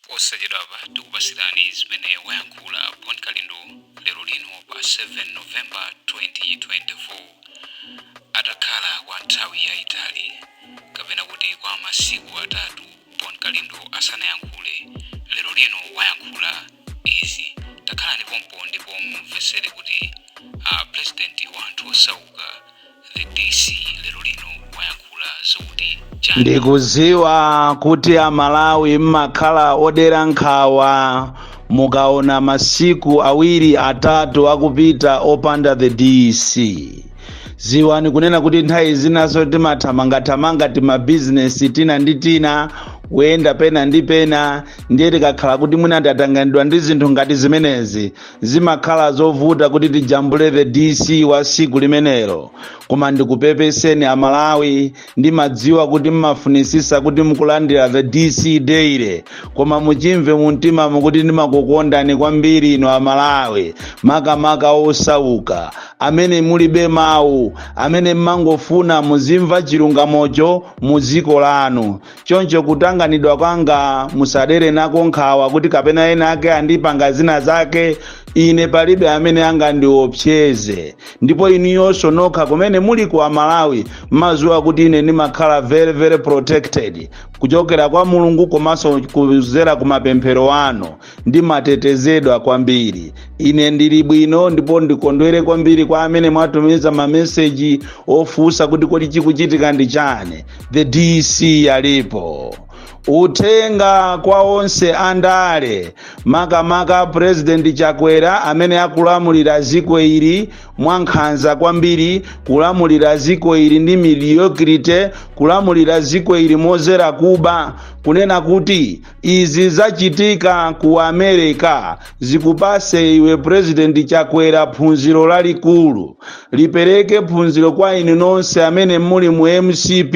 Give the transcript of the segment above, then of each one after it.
posachedwapa tikupasirani zimene wayankhula bon kalindo lero lino pa 7 novemba 2024 atakhala kwa nthawi yayitali kapena kuti kwa masiku atatu bon kalindo asanayankhule lero lino wayankhula izi takhalani pompo ndipo mumvetsere kuti uh, pulezidenti wa anthu osauka The DC lero lino wayankhula zokuti chani ndikuziwa kuti amalawi mmakhala odera nkhawa mukaona masiku awiri atatu akupita opanda the dc ziwani kunena kuti nthawi zinaso timathamangathamanga timabizinesi tina ndi tina kuyenda pena ndi pena ndiye tikakhala kuti mwina tatanganidwa ndi zinthu ngati zimenezi zimakhala zovuta kuti tijambule the dc wa siku limenelo koma ndikupepeseni amalawi ndimadziwa kuti mmafunisisa kuti mukulandira the dc daily koma muchimve mumtima mukuti ndimakukondani kwambiri inu amalawi makamaka osauka amene mulibe mawu amene mmangofuna muzimva chilungamocho mu dziko lanu choncho kutanganidwa kwanga musadere nako nkhawa kuti kapena ena ake andipanga zina zake ine palibe amene angandiopseze ndipo inuyonso nokha kumene muli ku amalawi maziwa kuti ine ndimakhala very very protected kuchokera kwa mulungu komanso kuzera ku mapemphero anu ndimatetezedwa kwambiri ine ndili bwino ndipo ndikondwere kwambiri kwa amene mwatumiza mameseji ofunsa kuti kodi chikuchitika ndi chani the dc alipo uthenga kwa onse andale makamaka purezidenti chakwera amene akulamulira dziko ili mwankhanza kwambiri kulamulira dziko ili ndi mediocrity kulamulira dziko ili mozera kuba kunena kuti izi zachitika ku america zikupase iwe president chakwera phunziro lalikulu lipereke phunziro kwa inu nonse amene muli mu mcp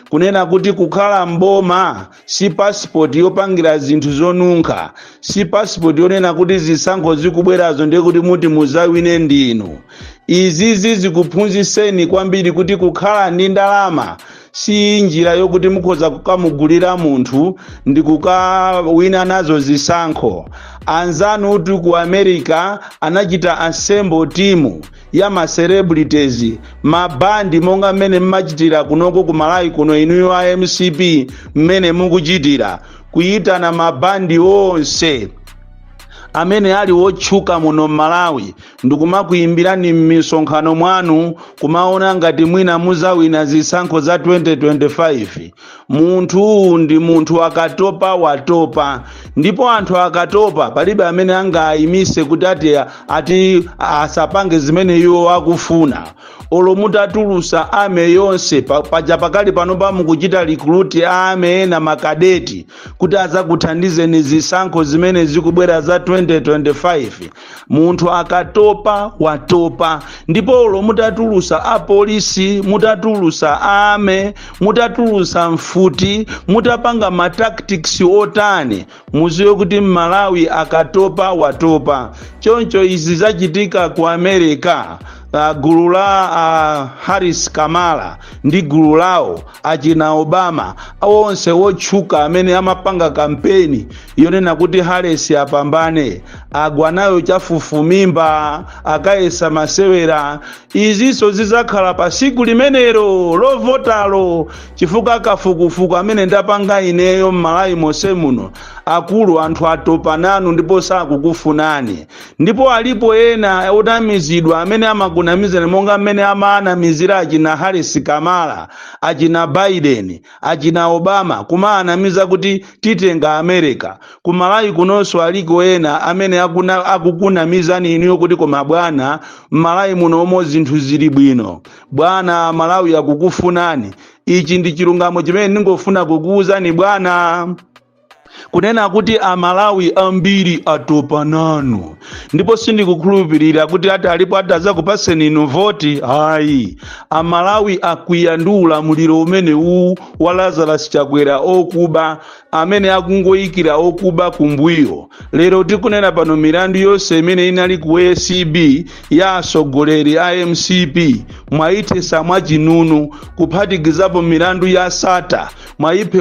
kunena kuti kukhala mboma si passport yopangira zinthu zonunkha si passport yonena kuti zisankho zikubwerazo ndiye kuti muti muzawine ndinu izizi zikuphunziseni kwambiri kuti kukhala ndi ndalama si njira yokuti mukhoza kukamugulira munthu ndi kukawina nazo zisankho anzanu uti ku america anachita assemble timu ya ma celebrities mabandi monga mmene mmachitira kunoko ku malawi kuno inuyo a mcp mmene mukuchitira kuyitana mabandi onse amene ali wotchuka muno m'malawi ndikumakuyimbirani m'misonkhano mwanu kumaona ngati mwina muzawina zisankho za 2025 munthu ndi munthu akatopa watopa ndipo anthu akatopa palibe amene angayimise kuti ati, ati asapange zimene iwo akufuna olo mutatulusa army yonse paja pakali panopa mukuchita recruit a army ena makadeti kuti azakuthandizeni zisankho zimene zikubwera za 2025 munthu akatopa watopa ndipo olo mutatulusa apolisi mutatulusa army mutatulusa mfuti mutapanga ma tactics otani muziwe kuti mmalawi akatopa watopa choncho izi zachitika ku america uh, gulu la uh, harris kamala ndi gulu lawo achina obama onse otchuka amene amapanga kampeni yonena kuti Harris apambane agwa nayo chafufumimba akayesa masewera izinso zidzakhala pa siku limenelo lovotalo chifukwa kafukufuku amene ndapanga ineyo m'malawi monse muno akulu anthu atopa nanu ndipo sakukufunani ndipo alipo ena onamizidwa amene amakunamizani monga mmene amaanamizira achina harris kamala achina biden Achina Obama kumaanamiza kuti titenga America. Ku Malawi kunonso aliko ena amene akukunamizani inuyo kuti koma bwana, m'Malawi munomo zinthu zili bwino. Bwana, Malawi akukufunani. Ichi ndi chilungamo chimene ndingofuna kukuuzani bwana. kunena kuti amalawi ambiri atopa nanu ndipo sindikukhulupirira kuti alipo atazakupaseni inu voti ayi amalawi akwiya ndi ulamuliro umene uwu wa lazarus chakwera okuba amene akungoyikira okuba kumbuyo lero tikunena pano milandu yonse imene inali ku acb ya atsogoleri a mcp mwayithesa mwachinunu kuphatikizapo milandu ya sata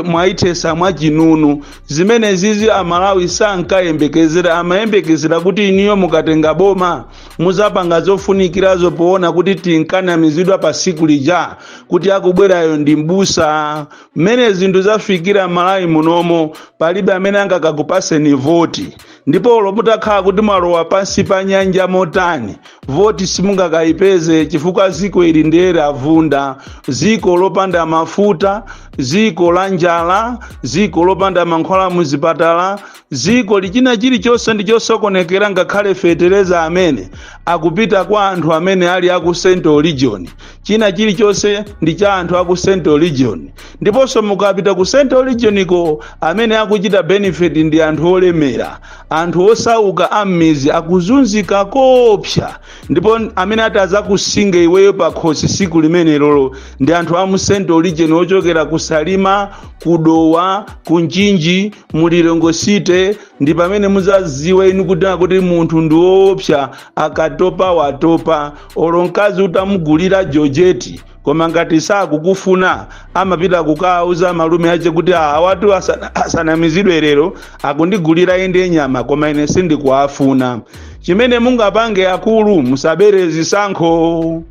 mwayithesa mwachinunu zimenezizi amalawi sankayembekezera amayembekezera kuti inuyo mukatenga boma muzapanga zofunikirazo poona kuti tinkanamizidwa pa siku lija kuti akubwerayo ndi mbusa mmene zinthu zafikira m'malawi munomo palibe amene angakakupaseni voti ndipo olo mutakhala kuti mwalowa pansi pa nyanja motani voti simungakayipeze chifukwa ziko ili ndi lovunda ziko lopanda mafuta ziko la njala ziko lopanda mankhwala muzipatala ziko loti china chilichonse ndi chosokonekera ngakhale fetereza amene akupita kwa anthu amene ali aku central region china chilichonse ndi cha anthu aku central region ndiponso mukapita ku central region ko amene akuchita benefit ndi anthu olemera anthu osauka am'mizi akuzunzika koopsa ndipo amene atazakusinge iweyo pakhosi siku limenelolo ndi anthu a mu central region ochokera ku salima ku dowa ku mchinji mu lilongwe city ndi pamene muzaziwe inu kuti akuti munthu ndi woopsa akatopa watopa olo mkazi utamugulira jojeti koma ngati sakukufuna amapita kukawauza malume ache kuti "Ah, awatu asanamizidwe lero akundigulira inde nyama koma ine sindikuwafuna chimene mungapange akulu musabere zisankho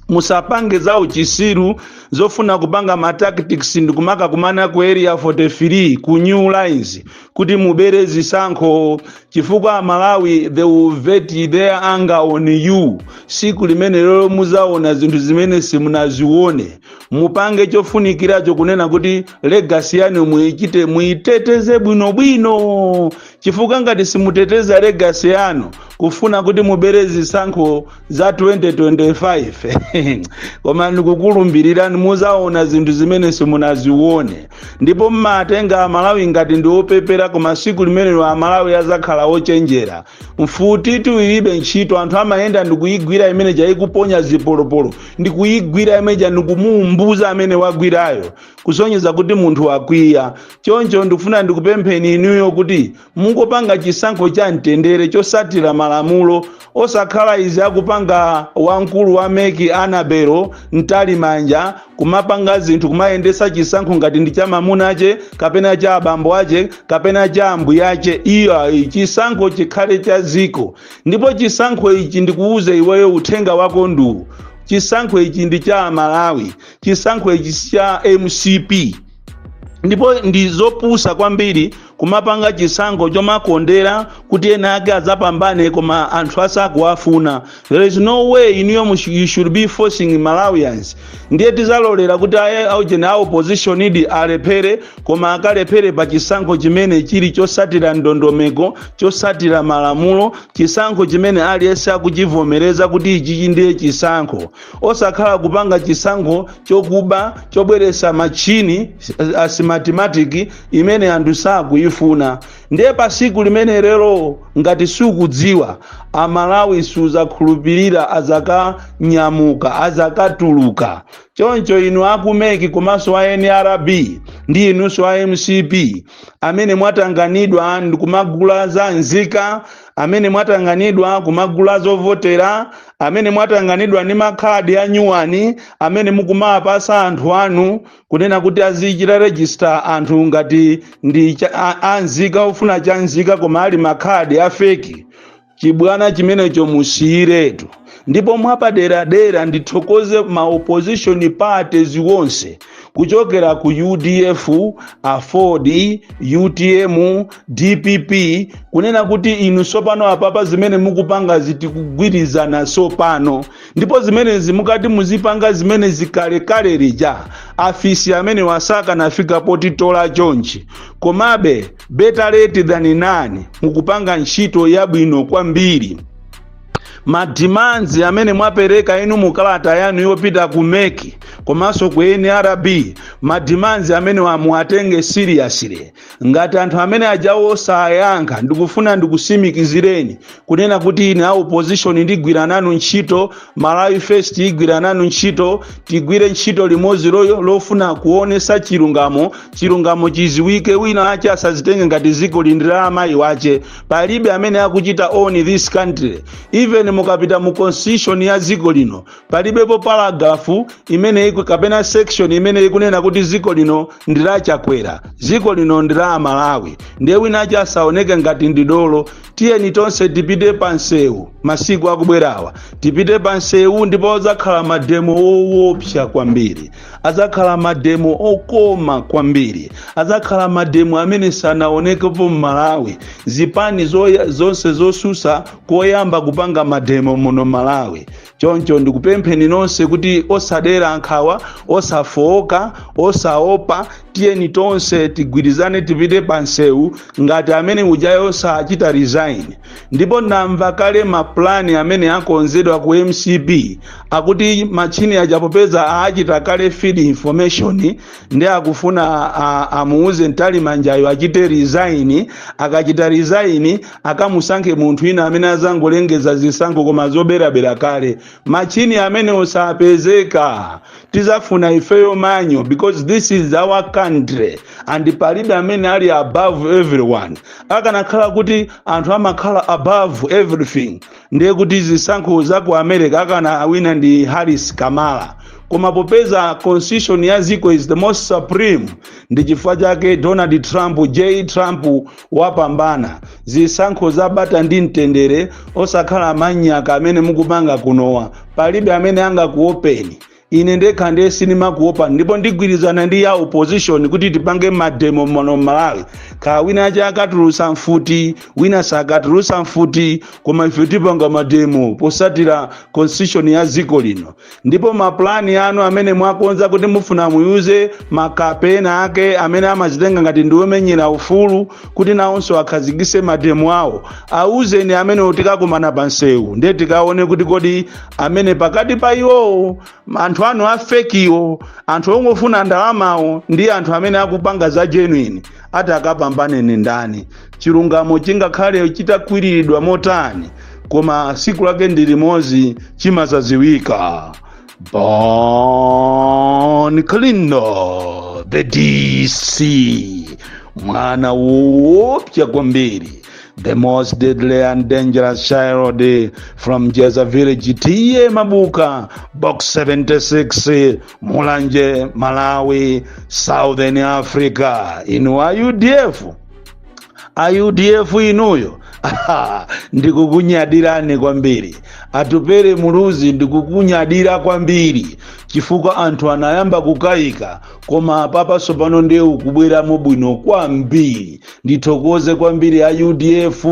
musapange za uchisiru zofuna kupanga ma tactics ndikumaka kumana ku area 43 ku new lines kuti mubere zisankho chifukwa amalawi they will vent their anger on you siku limenelolo muzaona zinthu zimene simunazione mupange chofunikiracho kunena kuti legasi yanu muichite muiteteze bwinobwino chifukwa ngati simuteteza legasi yanu kufuna kuti mubere zisankho za 2025 koma ndikukulumbirirani muzaona zinthu zimene simunazione ndipo mmatenga amalawi ngati ndi opepera koma siku limenelo amalawi azakhala ochenjera mfuti ilibe ntchito anthu amayenda ndikuyigwira imeneija ikuponya zipolopolo ndikuyigwira imeneija ndikumuumbuza amene wagwirayo kusonyeza kuti munthu wakwiya choncho ndikufuna ndikupempheni inuyo kuti mungopanga chisankho cha mtendere chosatira malamulo osakhala izi akupanga wamkulu wa mec annabel mtalimanja kumapanga zinthu kumayendesa chisankho ngati ndi cha mamunache kapena cha abambo ache kapena cha ambuya ache iyayi chisankho chikhale cha dziko ndipo chisankho ichi ndikuwuze iweyo uthenga wako ndi uwu chisankho ichi ndi cha amalawi chisankho ichi si cha mcp ndipo ndi zopusa kwambiri kumapanga chisankho chomakondera kuti ena ake azapambane koma anthu asakuwafuna there is no way inuyo mush- you should be forcing malawians ndiye tizalolera kuti aye aujeni a opposition inde alephere koma akalephere pa chisankho chimene chili chosatira ndondomeko chosatira malamulo chisankho chimene aliyense akuchivomereza kuti ichichi ndiye chisankho osakhala kupanga chisankho chokuba chobweresa matchini a smartmatic imene anthu sakuyifuna ndiye pa siku limenelolo ngati sukudziwa amalawi suzakhulupirira azakanyamuka azakatuluka choncho inu a ku mec komanso a nrb ndi inunso a mcp amene mwatanganidwa ndikumagula a za nzika amene mwatanganidwa kumagula zovotera amene mwatanganidwa ndi makhadi a nyuwani amene mukumawapasa anthu anu kunena kuti azichita register anthu ngati ndi cha- a- anzika ofuna cha nzika koma ali makhadi a feki chibwana chimenecho musiyiretu ndipo mwapaderadera ndithokoze ma opposition parties wonse kuchokera ku udf aford utm dpp kunena kuti inu tsopano apapa zimene mukupanga zitikugwirizana tsopano ndipo zimenezi mukati muzipanga zimenezi kalekale lija afisi amenewa sakanafika potitola chonchi komabe better late than none mukupanga ntchito yabwino kwambiri ma demands amene mwapereka inu mu kalata yanu yopita ku mec komanso ku nrb ma demands amenewa muwatenge seriously ngati anthu amene ajawo sayankha ndikufuna ndikusimikizireni kunena kuti ine a opposition ndigwira nanu ntchito malawi first igwira nanu ntchito tigwire ntchito limodzi loyo lofuna kuonesa chilungamo chilungamo chiziwike wina ache asazitenge ngati zikoli ndi la amayi wache palibe amene akuchita own this country even mukapita mu constitution ya dziko lino palibepo paragraph imene iku kapena section imene ikunena kuti dziko lino ndi la chakwera dziko lino ndi la amalawi ndiye wina ache asaoneke ngati ndi dolo tiyeni tonse tipite pa msewu masiku akubwerawa tipite pa msewu ndipo adzakhala mademo owopsa kwambiri adzakhala mademo okoma kwambiri adzakhala mademo amene sanaonekepo m'malawi zipani zoya- zonse zosusa koyamba kupanga mademo muno malawi choncho ndikupempheni nonse kuti osadera nkhawa osafooka osaopa tiyeni tonse tigwirizane tipite pa nsewu ngati amene ujayo sachita resign ndipo ndamva kale mapulani amene akonzedwa ku mcp akuti matchini aja popeza achita kale feed information ndi akufuna a- a- amuuze mtalimanjayo achite resign akachita resign akamusankhe munthu wina amene azangolengeza zisankho koma zoberabera kale matchini amenewo sapezeka tizafuna ifeyo manual because this is our country and palibe amene ali above everyone akanakhala kuti anthu amakhala above everything ndiye kuti zisankho za ku america akanawina ndi harris kamala koma popeza constitution ya ziko is the most supreme ndi chifukwa chake donald trump j trump wapambana zisankho za bata ndi mtendere osakhala manyaka amene mukupanga kunowa palibe amene angakuopeni ine ndekha ndiye sindimakuopa ndipo ndigwirizana ndi ya opposition kuti tipange mademo muno malawi kaya wina aja akatulusa mfuti wina sakatulusa mfuti koma ife tipanga mademo posatira constitution ya dziko lino ndipo mapulani anu amene mwakonza kuti mufuna muwuze makape enaake amene amazitenga ngati ndi omenyera ufulu kuti nawonso akhazikise mademo awo awuzeni amenewo tikakumana pa msewu ndiye tikaone kuti kodi amene pakati pa iwowo anthu anu afekiwo anthu ongofuna ndalamawo ndi anthu amene akupanga za genuine atakapambane ndi ndani chilungamo chingakhale chitakwiriridwa motani koma siku lake ndi limodzi chimazaziwika bon kalindo the dc mwana woopsa kwambiri the most deadly and dangerous child from jeza village t/a mabuka box 76 mulanje malawi southern africa inu a udf a udf inuyo Aha, ndikukunyadirani kwambiri atupere muluzi ndikukunyadira kwambiri chifukwa anthu anayamba kukayika koma apapa tsopano ndiye ukubweramo bwino kwambiri ndithokoze kwambiri a udf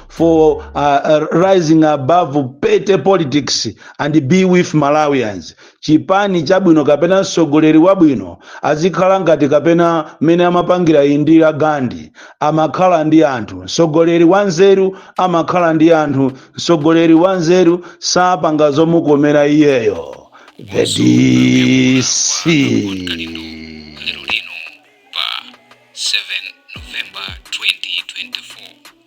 for uh, uh, rising above petty politics and be with malawians chipani chabwino kapena mtsogoleri wabwino azikhala ngati kapena mmene amapangira indira gandhi amakhala ndi anthu mtsogoleri wanzeru amakhala ndi anthu mtsogoleri wanzeru sapanga zomukomera iyeyo the dc lero lino pa 7 november 2024